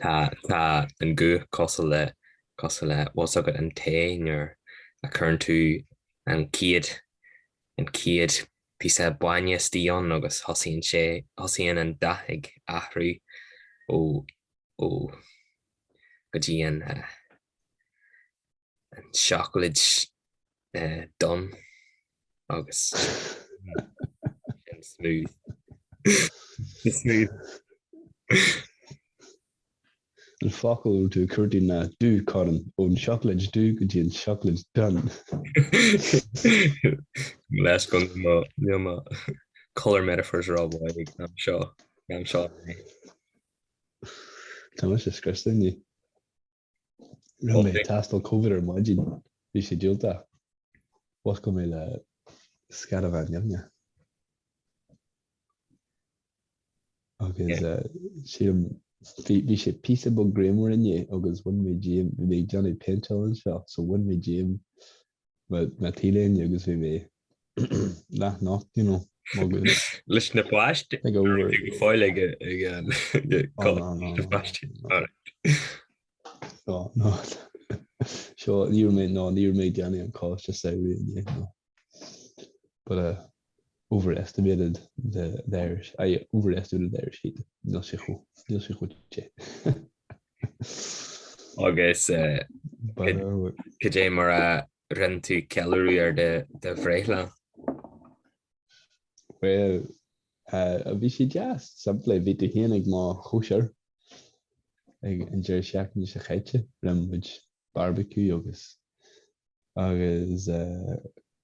Tá an guth cosúil le cosúil le, tá fhios agat, an tae nuair a chuireann tú an chéad an chéad píosa bainne istigh ann agus thosaíonn sé thosaíonn an dath ag athrú ó ó go dtí an an seacláid donn agus sin smooth. An focal dubh, cuirtíní dubh, corn ón seacláid dubh go dtí an seacláid donn. Leis go mbíonn mo colour metaphors ró-mhaith ag am seo, am seo inné. Tá mise scriosta inniu. Rinne mé tástáil Covid ar maidin. Bhí sé diúltach. Mhuscail mé le sceadamán nimhneach. Agus sílim bhí sé píosa beag grianmhar inné agus bhain mé díom, bhí mé ag déanamh péinteáil anseo, so bhain mé díom mo T-léine agus bhí mé leathnocht you know leis na plast fáil aige seo níl mé ná níl mé ag déanamh an cás sa samhradh but uh, overestimated the the Irish I overestimated the Irish heat níl sé chomh níl sé chomh te. Agus cad é mar a rinne tú ceiliúradh ar do bhreithlá? Bhuel, bhí sé deas, simplí, bhí tú féin ag mo chóisir ag an deireadh seachtaine seo chaite, rinne muid barbecue agus agus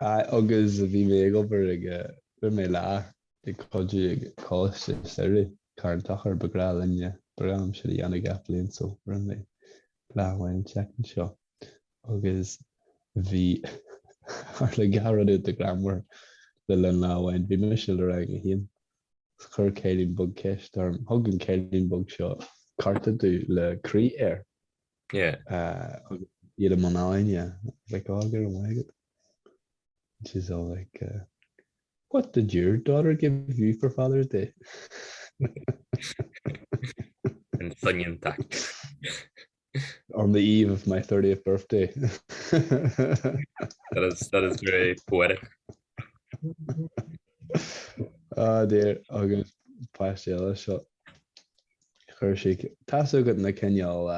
Agus bhí mé ag obair ag, rinne mé lá ag cuidiú ag coláiste samhraidh Carn Tochair, is breá linne, is breá liom sin a dhéanamh gach bliain so rinne mé lá amháin an tseachtain seo agus bhí, tharla dhá rud iontach greannmhar le linn lá amháin, bhí mise le rang a haon is chuir cailín beag ceist orm, thug an cailín beag seo cárta domh le croí air. agus iad i mbun éinne like oh I'll get it when I get it and she's all like uh, what did your daughter give you for Father's Day? an soinneann taict on the eve of my 30th birthday that is, that is very poetic ah dear agus páiste eile seo Chuir sí, tá fhios agat na cineál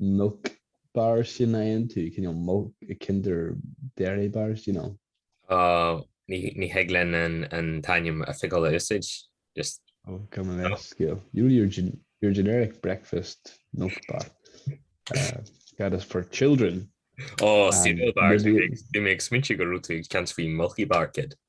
milk bars sin ann, cineál milk, kinder dairy bars, you know. Ó, ní thig linn an t-ainm oifigiúil a úsáid, just. Ó, come on, leithscéal. Your generic breakfast milk bar. That is for children. Ó, cereal bars, bhí mé ag smaointiú go raibh tú ag caint faoi Milky Bar Kid.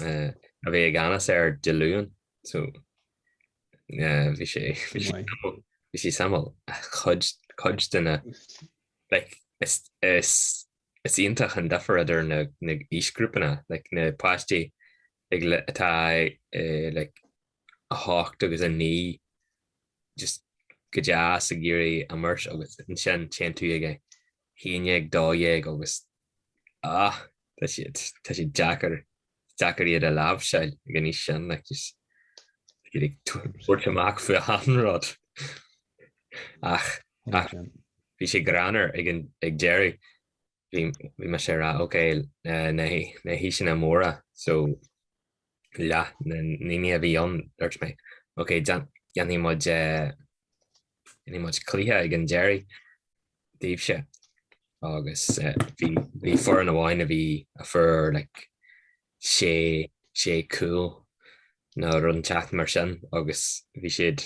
a bhí i gceannas air Dé Luain so bhí sé bhí sé samhail chuid chuid de na like is is is iontach an difear idir na na aoisghrúpanna like na páistí ag atá like a hocht agus a naoi just go deas ag iarraidh imirt agus ansin téann tú ag 1112 agus ah, tá siad, tá siad deacair, deacair iad a láimhseáil ag an aois sin, like is, iad ag tabhairt amach faoi achan rud. Ach, ach bhí sé greannmhar ag, ag deireadh, bhí, bhí mise ag rá, ok, na, na haoiseanna móra, so leath na ndaoine a bhí ann, dúirt mé, Ok, déanfaidh muid, déanfaidh muid cluiche ag an deiridh daoibhse. Agus bhí foireann amháin a bhí, a fuair like sé, sé cúl nó rud inteacht mar sin agus bhí siad,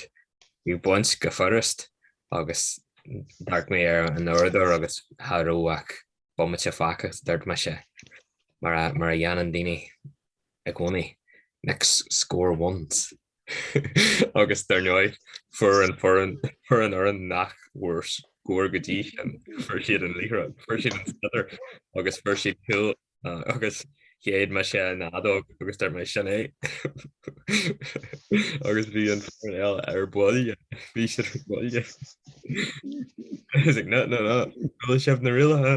bhí siad ag baint go furust agus d'amharc mé ar an uaireadóir agus cha raibh ach bomaite fágtha, dúirt mise, mar a, mar a dhéanann daoine i gcónaí. Next score wins! Agus dar ndóigh, fuair an foireann fhoireann nach bhfuair scór go dtí sin, fuair siad an liathróid, fuair siad an sliotar agus fuair siad cúl agus shéid mise an fheadóg agus dúirt mé sin é. Agus bhí an foireann eile ar buille, bhí siad ar buille. Is ag, no, no, no, sin iad na rialacha.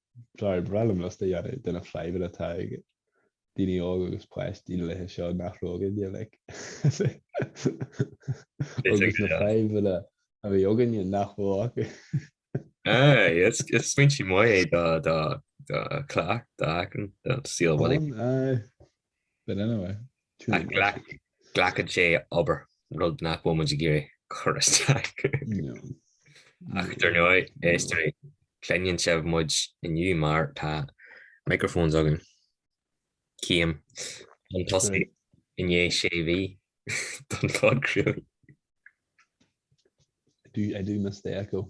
Ba bhreá liom liosta a dhéanamh de na fadhbanna atá ag daoine óga agus páistí na laethe seo nach raibh againne, like, agus na fadhbanna a bhí againne nach raibh acu. Aye, is foinsí maith é do cleacht, do aiceann, do saol uilig. Ann, aye. le linn a bheith tuillte go dtí. Glacann sé obair, rud nach bhfuil muid ag iarraidh cur isteach. Ach dar ndóigh, is dtigh cluineann sibh muid inniu mar tá microphones againn. Céim, chun tosaigh i ndiaidh sé mhí don phodchraoladh. I do mistake, oh.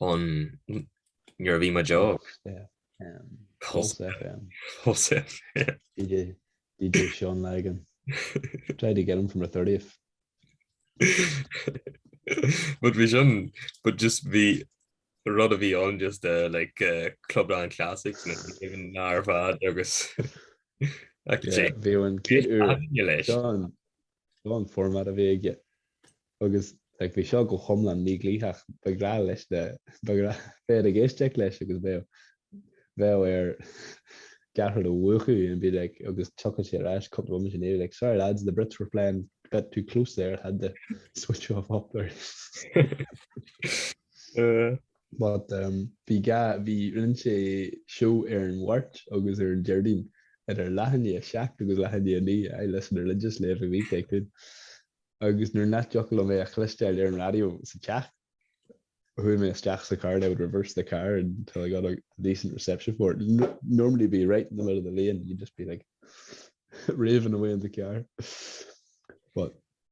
ón nuair a bhí muid óg. Pulse FM. Pulse FM. DJ, DJ Sean Lagan. Tried to get him from the 30th. but bhí sin, but just bhí rud a bhí on just uh, like uh, Clubland Classics na even nar fad agus bhí an céad úr Sean Seo an format a bhí aige agus like bhí seo go hiomlán mídhlítheach. ba bhreá leis na ba bhreá féin ag éisteacht leis agus bheadh bheadh air gach rud a mhúchadh and be like agus tiocfadh sé ar ais cúpla uair ina dhiaidh like sorry lads the Brits were flying a bit too close there had to switch off up there. But um bhí ga, bhí, rinne sé seó ar an Mháirt agus ar an Déardaoin idir leath i ndiaidh a seacht agus leath i ndiaidh a naoi, I listened religiously every week I could agus nuair nach dtiocfadh liom é a chluinsteáil ar an radio sa teach, chuaigh mé isteach sa car and I would reverse the car until I got a decent reception for it. N normally be right in the middle of the lane, you'd just be like raving away in the car. But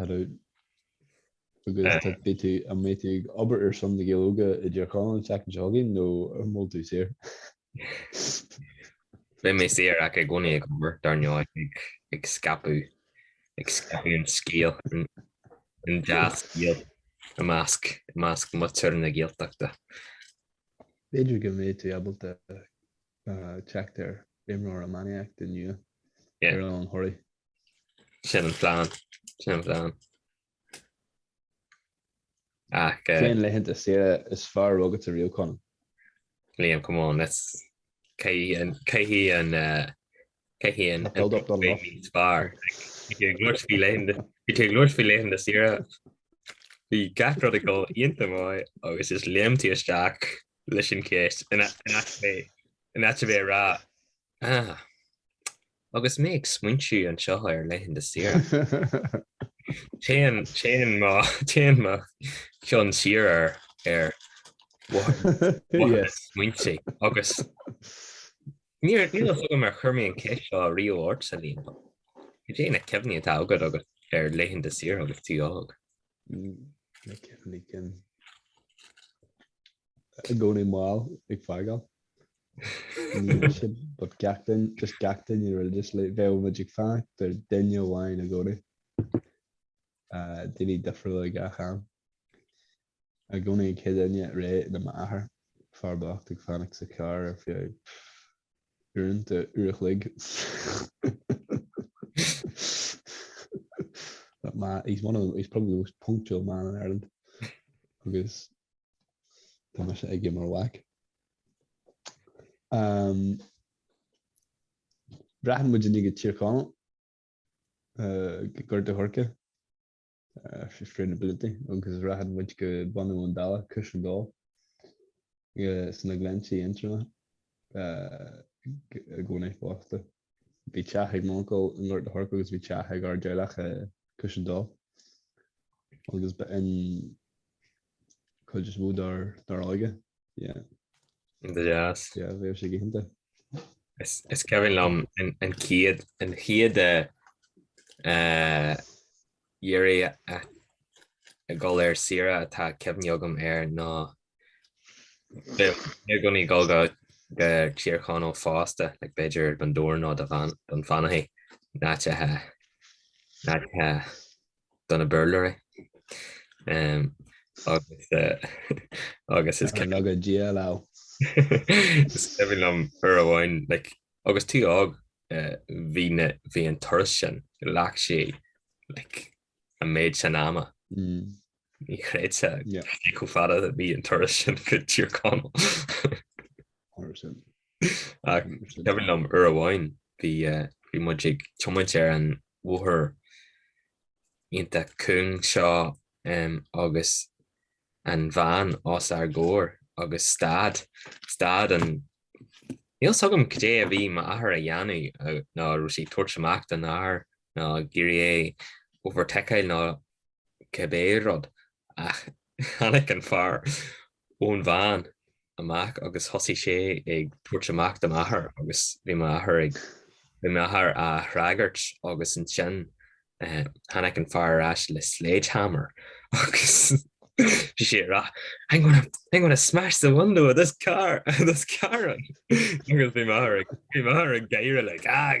An mbeidh tú ag obair ar son na Gaeilge i dTír Chonaill an tseachtain seo chugainn nó an bhfuil tú saor? Beidh mé saor ach i gcónaí ag obair, dar ndóigh, ag scaipeadh, ag scaipeadh an scéil, an dea-scéal i measc muintir na Gaeltachta. B'fhéidir go mbeidh tú ábalta teacht ar imreoir iománaíochta nua ar an Choraí. Sin an plean, sin an plean. Ach. Cén laethanta saoire is fearr agat ariamh, a Chonaill? Liam, come on, let's, cé hí an, cé hí an, Cé hé an taobh níos fearr? Bhí sé ag labhairt faoi laethanta, bhí sé ag labhairt faoi laethanta saoire. Bhí gach rud ag dul iontach maith agus is léim tú isteach leis an cheist in áit a bheith ag rá Ah, agus mé ag smaointiú anseo ar laethanta saoire. Téann mo cheann siar ar mo chuid smaointe agus Níl a fhios agam ar chuir mé an cheist seo riamh ort, a Liam, ach cad é na cuimhní atá agatsa ar laethanta saoire agus tú óg? Na cuimhní cinn. I gcónaí mall ag fágáil. But gach duine, just gach duine ar just like bheadh muid ag fanacht ar duine amháin i gcónaí. daoine difriúla gach am. I gcónaí an chéad duine réidh ná m'athair, fear bocht ag fanacht sa charr ar feadh uaireanta, uair a chloig. That man, he's one of the, he's probably the most punctual man in Ireland. Agus tá mise aige mar mhac. Um, Rachadh muidinne go Tír Chonaill. Gort a' Choirce, Sustainability agus rachadh muid go Bun Abhann Dalla, Cushendall, sna Glinntí Aontroma i gcónaí fosta. Bhí teach ag m'uncail i nGort a' Choirce agus bhí teach ag ár dteaghlach i Cushendall agus b'in cuid is mó dár dár óige. Yeah. Go deas. Yeah, bhí sé galánta. Is is cuimhin liom an an chéad an chéad eh, eh, uair a a dhul ar saoire atá cuimhne agam air ná bhí bhí i gcónaí dhul go go Tír Chonaill fosta like b'fhéidir Bundoran nó Dunfanaghy na háite na háite do na Béarlóirí agus agus is cuimhin go dia leo. Is cuimhin liom uair amháin like agus tú óg bhí na bhí an turas sin ghlac sé like an méid sin ama. Ní chreidfeá chomh fada a bhí an turas sin go Tír Chonaill. Cuimhin liom uair amháin bhí bhí muid ag tiomáint ar an bhóthar iontach cúng seo agus an veain os ár gcomhair agus stad, stad an, níl 'fhios agam cad é a bhí m'athair a dhéanamh nó raibh sé ag tabhairt amach don fhear nó ag iarraidh é overtakeáil nó cibé rud Ach tháinig an fear ón veain amach agus thosaigh sé ag tabhairt amach do m'athair agus bhí m'athair ag, bhí m'athair á fhreagairt agus ansin tháinig an fear ar ais le sledgehammer agus bhí sé ag rá I'm gonna, I'm gonna smash the window of this car, this car agus bhí m'athair ag, bhí m'athair ag gáire like ah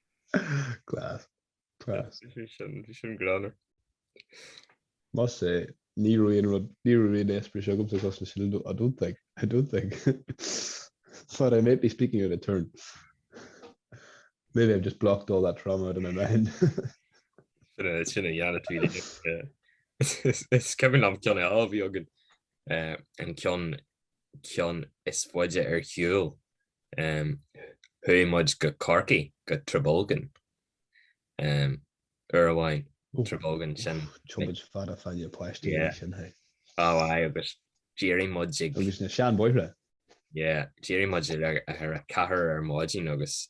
Class. Class. Bhí sin gránna. Must say, ní raibh aon rud, ní raibh aon eispéireas agamsa cosúil leis sin, I don't think, I don't think. But I might be speaking out of turn. Maybe I've just blocked all that trauma out of my mind. Sin a dhéanann tú le. Is cuimhin liom ceann eile a bhí againn, an ceann is faide ar shiúl. Chuaigh muid go Corcaigh, go Trabolgan, uair amháin. Trabolgan, sin tiomáint fada fada le páistí é sin, hé. Á, aye, agus d'éirigh muid ag. Agus na seanbhóithre. Yeah, d'éirigh muid ag a ceathair ar maidin agus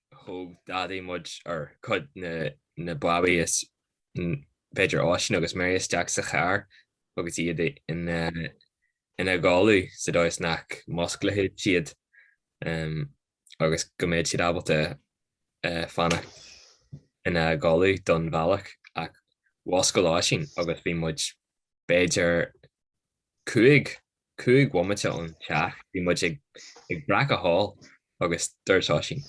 thóg Daidí muid ar, cuid na mbabaí is b'fhéidir Oisín agus Mary isteach sa charr agus iad ina gcodladh sa dóigh is nach musclódh siad agus go mbeadh siad ábalta fanacht ina gcodladh don bhealach ach mhuscail Oisín agus bhí muid b'fhéidir cúig cúig bhomaite ón teach bhí muid ag Bracaigh thall agus dúirt Oisín,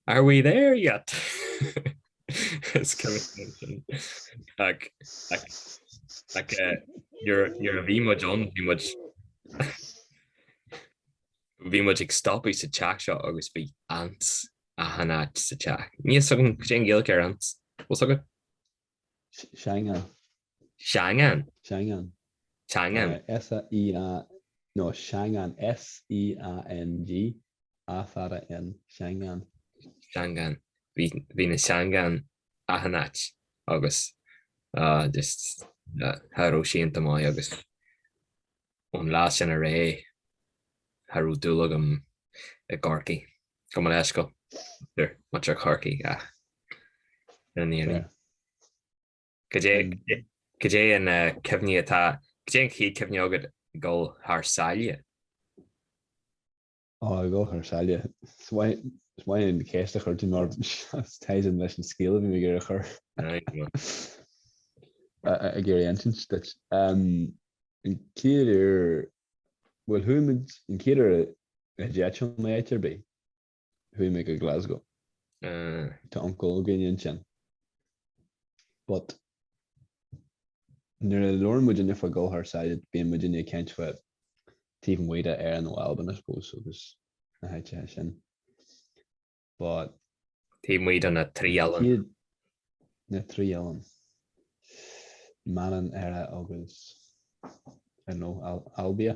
Are we there yet? Is cuma cén sin ach nuair a bhí muid ann bhí muid, bhí muid ag stopadh sa teach seo agus bhí ants achan áit sa teach. Níl a fhios agam cad é an Ghaeilge ar ants, an bhfuil a fhios agat? Seangán. Seangán. Seangán. Seangán. S-e-a, no, Seangán, S-e-a-n-g, a fada n, Seangán. Seangán. Bhí na seangáin achan áit agus just, cha raibh sé iontach maith agus. Ón lá sin i leith, cha raibh dúil agam i gCorcaigh. Gabh mo leithscéal, muintir Chorcaí ach ina n-éirí. Cad é an cuimhne atá, cad é an chéad chuimhne agat ag dul thar sáile? Ó, ag gabháil thar sáile, is maith liom an cheist a chuir tú orm mar tá sé in leis an scéal a bhí mé ag iarraidh a chur ag iarraidh insint duit. An chéad uair, bhuel, chuaigh muid, an chéad uair a d'eitil muid áit ar bith, chuaigh muid go Glasgow. Tá uncail againn ansin. But, nuair a labhrann muidinne faoi ghabháil thar sáile, bíonn muidinne ag caint faoi taobh amuigh d'Éirinn nó Albain I suppose agus na háiteacha sin. But Taobh amuigh de na trí oileán. Yeah, na trí oileán. Manainn, Éire agus I don't know Al Albia.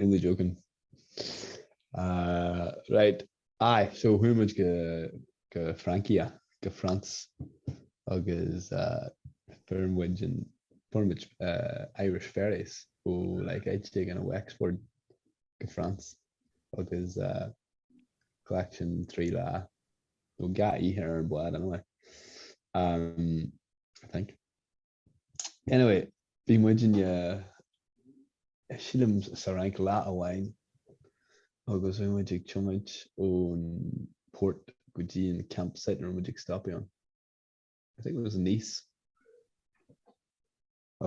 only joking. Uh, right. Aye, so who much go go Frankie go France agus uh, firm wage and firm uh, Irish ferries who oh, like I take an Wexford go France agus uh, collection three la we got you here and blood anyway. Um, I think Anyway, bhí muid i ndiaidh, sílim, sa Fhrainc lá amháin agus bhí muid ag tiomáint ón port go dtí an campsite a raibh muid ag stopadh ann. I think it was Nice.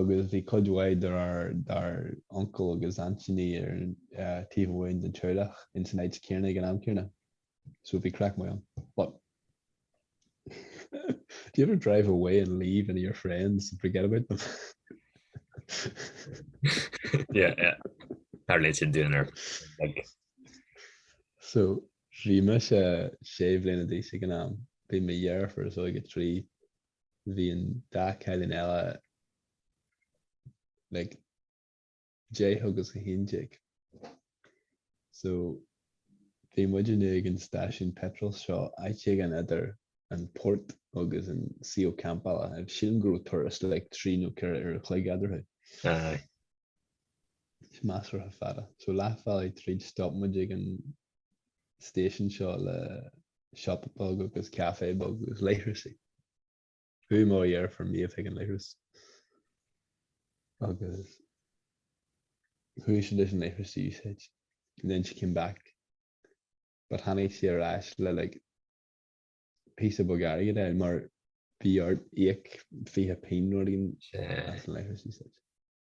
Agus bhí cuid mhaith d'ár d'ár uncail agus aintíní ar an taobh amháin den teaghlach ins an áit chéanna ag an am chéanna. so bhí craic maith ann but do you ever drive away and leave any of your friends and forget about them? yeah, yeah. Tharla sin dúinne like. So bhí mise sé bhliana d'aois ag an am, bhí mo dheirfiúr is óige trí, bhí an dá cailín eile like 10 agus 11. So, bhí muidinne ag an stáisiún peitril seo, áit éigin idir an port agus an suíomh campála. Sílim go raibh turas like trí nó ceithre uair an chloig eadarthu. Aye. Is measartha fada. So leathbhealaigh tríd stop muid ag an stáisiún seo le siopa beag agus café beag agus leithreasaí. Chuaigh mo dheirfiúr Méabh chuig an leithreas agus chuaigh sí leis an leithreas a úsáid and then she came back but tháinig sí ar ais le like píosa beag airgid a fháil mar bhí ort íoc fiche pingin nó rud éigin as an leithreas a úsáid.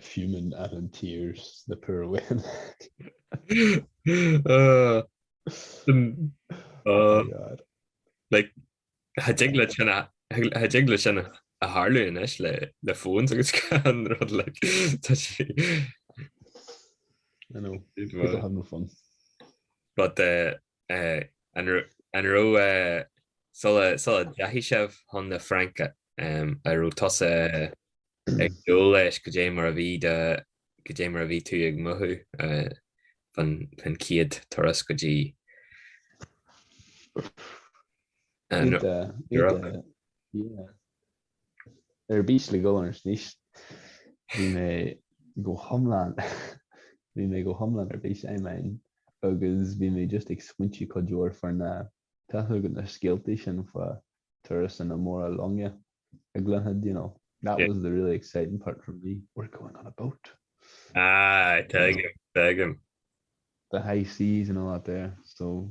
Fuming and in tears, the poor woman. Cha dtig le sin a tharlú anois le phones agus achan rud like. I know, people have no fun. But An raibh, sula ndeachaigh sibh chun na Fraince, an raibh tusa ag dúil leis cad é mar a bhí do, cad é mar a bhí tú ag mothú fán chéad turas go dtí an Eoraip? ar bís le dhul arís níos bhí mé go hiomlán bhí mé go hiomlán ar bís I mean agus bhí mé just ag smaointiú cuid mhór fá na, tá a fhios agat, na scéaltaí sin fá turasanna móra loinge a gcluinfeá you know that was the really exciting part for me we're going on a boat ah you know, the high seas and all that there so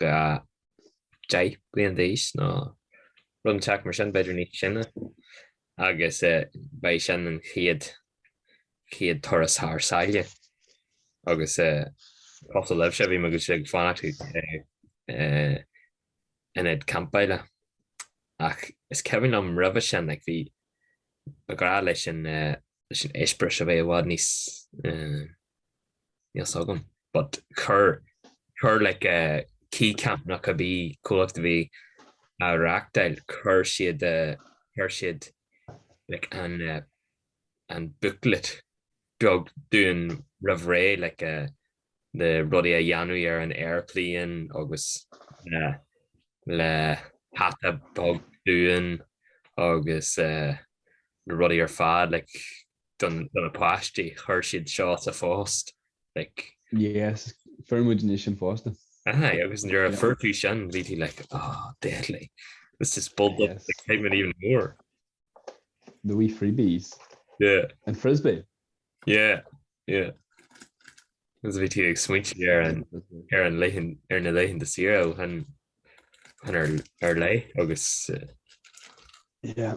10 bliain d'aois nó rud inteacht mar sin, b'fhéidir níos sine, agus ba é sin an chéad chéad turas thar sáile agus cosúil libhse bhí mé ag fanacht in áit campála ach is cuimhin liom roimhe sin like bhí grá leis an eispéireas a bheith i bhfad níos níl 's agam but chuir chuir like Keycamp nach ea an comhlacht a bhí á reáchtáil chuir siad a chuir siad like an eh an booklet beag dúinn roimh ré like a na rudaí a dhéanamh ar an aeroplane agus le le hata beag dúinn agus eh na rudaí ar fad like do na páistí, chuir siad seo sa phost, like. Yes, fuair muidinne sa phost. Aye, agus nuair a fuair tú sin, bhí tú like, oh, deadly, this has built up the excitement even more. The wee freebies. Yeah. An frisbee. Yeah, yeah. Agus bhí tú ag smaointiú ar an, ar an laethan, ar na laethanta saoire ó shin, chun ar, ar aghaidh agus. Yeah.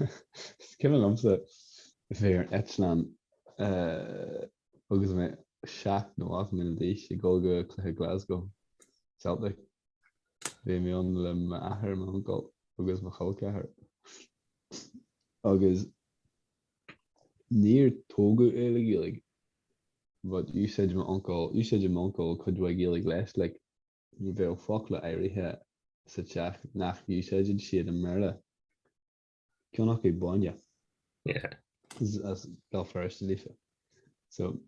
Is cuimhin liomsa bheith ar an eitleán agus mé seacht nó ocht mbliana d'aois ag dul go dtí cluiche Glasgow Celtic. Bhí mé féin le m'athair, m'uncail agus mo chol ceathar agus níor tógadh é le Gaeilge but d'úsáideadh m'uncail, d'úsáideadh m'uncail cuid de Ghaeilge leis like. bheadh focla áirithe sa teach nach n-úsáideadh siad i mBéarla, ceann acu bainne. Yeah. Agus is as Béal Feirste daofa. So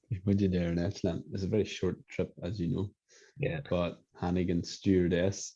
bhí muid ar an eitleán, it's a very short trip, as you know. Yeah. But tháinig an stewardess,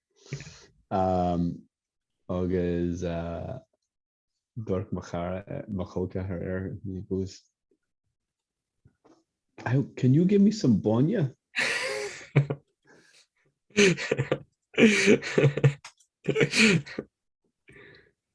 Agus dúirt mo chara, mo chol ceathar, he goes, Can you give me some bainne?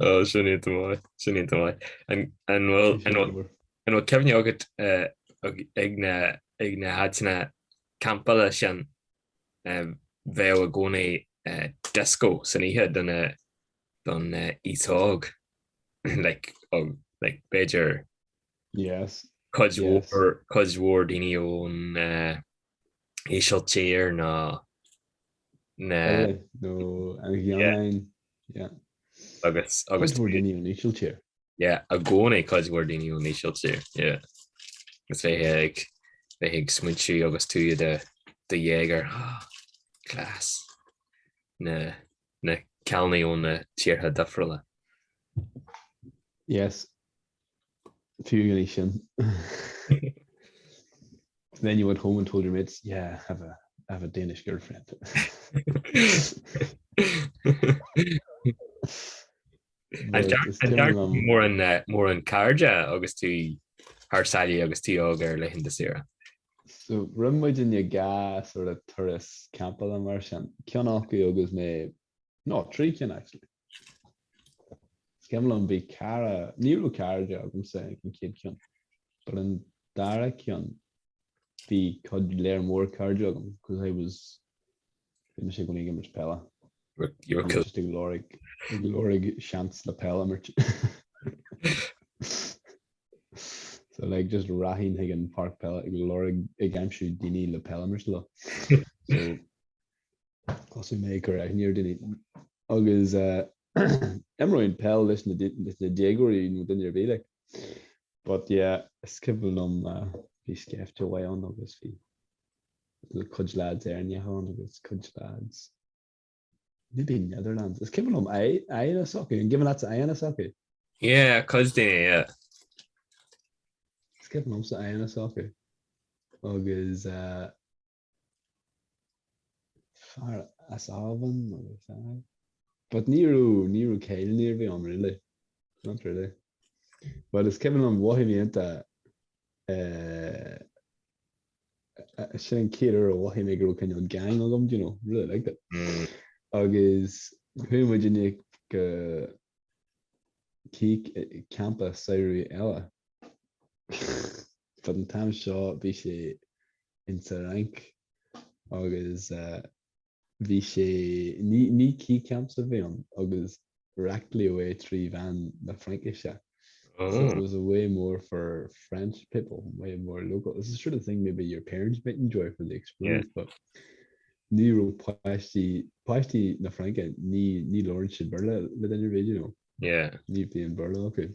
Oh, sin an-mhaith, sin an-mhaith. An an bhfuil an bhfuil an bhfuil cuimhne agat eh, ag ag na ag na háiteanna campála sin eh, bheadh i gcónaí eh, disco san oíche don eh, don eh, aois óg like, óg, like, b'fhéidir Yes, cuid Yes. mhór cuid mhór daoine ón eh, Ísiltír nó na hÉireann nó an Ghearmáin. Yeah. Agus. Cuid mhór daoine ón Ísiltír. Yeah, i gcónaí cuid mhór daoine ón Ísiltír, yeah. Agus bheith ag, bheith ag smaointiú agus tú i do, do dhéagóir, ah, class, na, na cailíní ó na tíortha difriúla. Yes. Fiú ina dhiaidh sin, then you went home and told your mates, yeah, I have a, I have a Danish girlfriend. An ceart, Is an ceart timpeall am- mórán, eh, mórán cairde agus tú thar sáile agus tú óg ar laethanta saoire. So, rinne muidinne dhá sort of turas campála mar sin. Ceann acu agus mé, no, trí cinn actually. Is cuimhin liom, bhí cara, ní raibh cairde agamsa ag an chéad cheann, but an dara ceann bhí cuid lear mór cairde agam because I was, bhí mise i gcónaí ag imirt peile, bhí mise just ag lorg, ag lorg seans le peil a imirt. So like just rachainn chuig an páirc peile ag lorg, ag aimsiú daoine le peil a imirt leo. So. Thosaigh mé ag cur aithne ar daoine agus imreoinn peil leis na déagóirí nó duine ar bith like. But yeah, is cuimhin liom bhí scaifte mhaith ann agus bhí cuid lads Éireannacha ann agus cuid lads maybe Netherlands. Is cuimhin liom Ian a' sochaí, an gcuimhin leatsa Ian a' sochaí? Yeah, cuid daoine, yeah. Is cuimhin liomsa Ian a' sochaí agus eh, fear as Albain nó a fear but ní raibh ní raibh cailíní ar bith ann really not really but is cuimhin liom mhothaigh mé iontach eh sin an chéad uair a mhothaigh mé go raibh cineál gang agam do you know really liked it agus chuaigh muidinne go dtí campa saoire eile But an t-am seo bhí sé ins a' Fhrainc agus bhí sé ní Keycamps a bhí ann agus reáchtáladh é trí mheán na Fraincise so it was a way more for French people, a way more local. It's the sort of thing maybe your parents might enjoy for the experience but ní raibh páistí, páistí na Fraince ní labhrann siad Béarla le duine ar bith you know, ní bhíonn Béarla acu.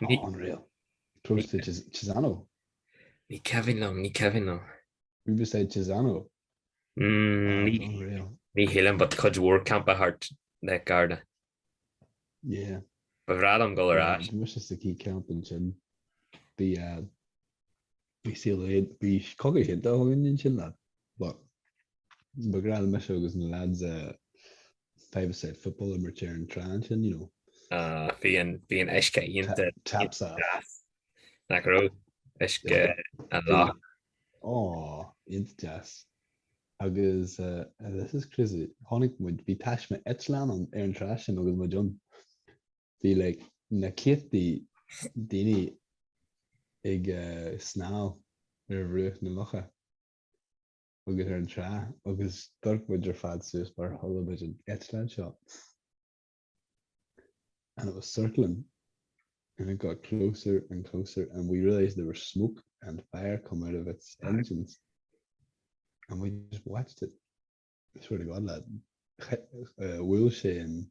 Tá unreal. Close to Cisano. Ní cuimhin liom, ní cuimhin liom. Who beside Cisano? Ní, unreal. Ní hé liom, but cuid mhór campa thart Lake Garda. Yeah. Ba bhreá liom dul ar ais. Muise sa Keycamp ansin. Bhí a. Bí saol é bí cogaidh é do bhinn in sin leat but ba bhreá le mise agus na lads a five a side football imirt ar an trá ansin you know. Ah bhí an bhí an uisce iontach taps off deas nach raibh? Uisce an loch. Aww iontach deas agus this is crazy tháinig muid bhí taisme eitleán ann ar an trá sin agus muid ann Bhí like na céadtaí daoine ag snámh ar bhruach na locha agus ar an trá agus d'amharc muid ar fad suas mar chuala muid an eitleán seo and it was circling and it got closer and closer and we realised there was smoke and fire come out of its engines and we just watched it. I swear to God lad, bhuail sé an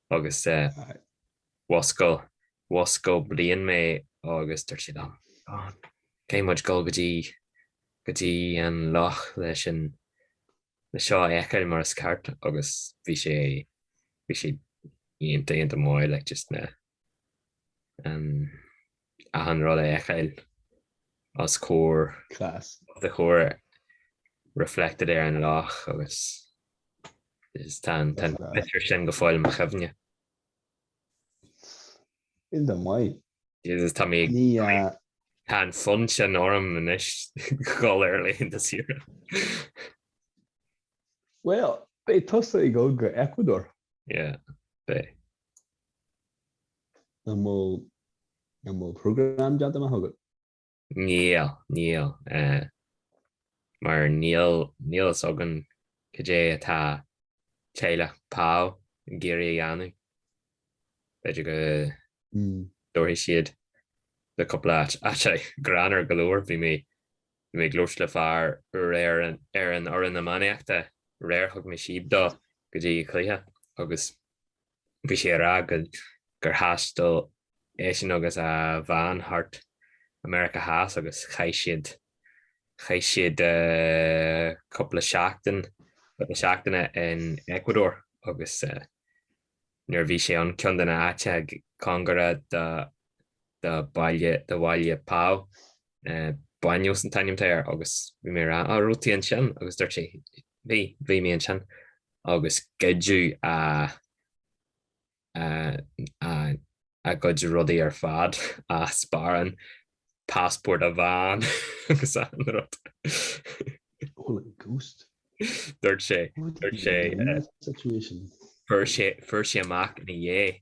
agus mhuscail bliain mé agus dúirt siad liom, Caithfidh muid dul go dtí an loch leis an le seo a fheiceáil mar is ceart agus bhí sé iontach, iontach maith. achan rud a fheiceáil os comhair do chomhair reflected ar an loch agus is tá an picture sin go fóill i mo chuimhne. Iontach maith. Jesus tá mé ag tá an fonn sin orm anois dhul ar laethanta saoire. Bhuel, beidh tusa ag dul go Ecuador. Yeah, beidh. An bhfuil an bhfuil program déanta amach agat? Níl, níl. Mar níl níl fhios againn cad é atá teaghlach Pau ag iarraidh a dhéanamh. B'fhéidir go dtabharfaidh siad le cúpla áit. Sea, greannmhar go leor bhí mé bhí mé ag labhairt le fear ar an ar an fhoireann iománaíochta aréir, thug mé síob dó go dtí an cluiche agus, Bhí sé ag rá gur thaistil eisean agus a bhean thart i Meiriceá Theas agus chaith siad chaith siad cúpla seachtain cúpla seachtaine in Ecuador agus nuair a bhí sé ann, ceann de na háiteacha cóngarach do do bhaile, do bhaile Pau. Baños an t-ainm atá air agus bhí mé ag rá á raibh tú ansin agus dúirt sé bhí, bhí mé ansin agus goideadh a, a, a, a gcuid rudaí ar fad a sparán, passport a bhean agus achan rud. Holy ghost. Dúirt sé, dúirt sé, fuair sé, fuair sé amach ina dhiaidh.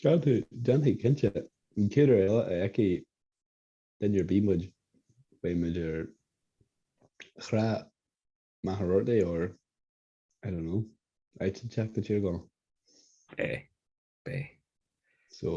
Seo tú, déanfaidh cinnte, an chéad uair eile a fheicfidh duine ar bith muid, beidh muid ar thrá Mhachaire Rabhartaigh or, I don't know, áit inteacht i dTír Chonaill. Beidh, beidh. So,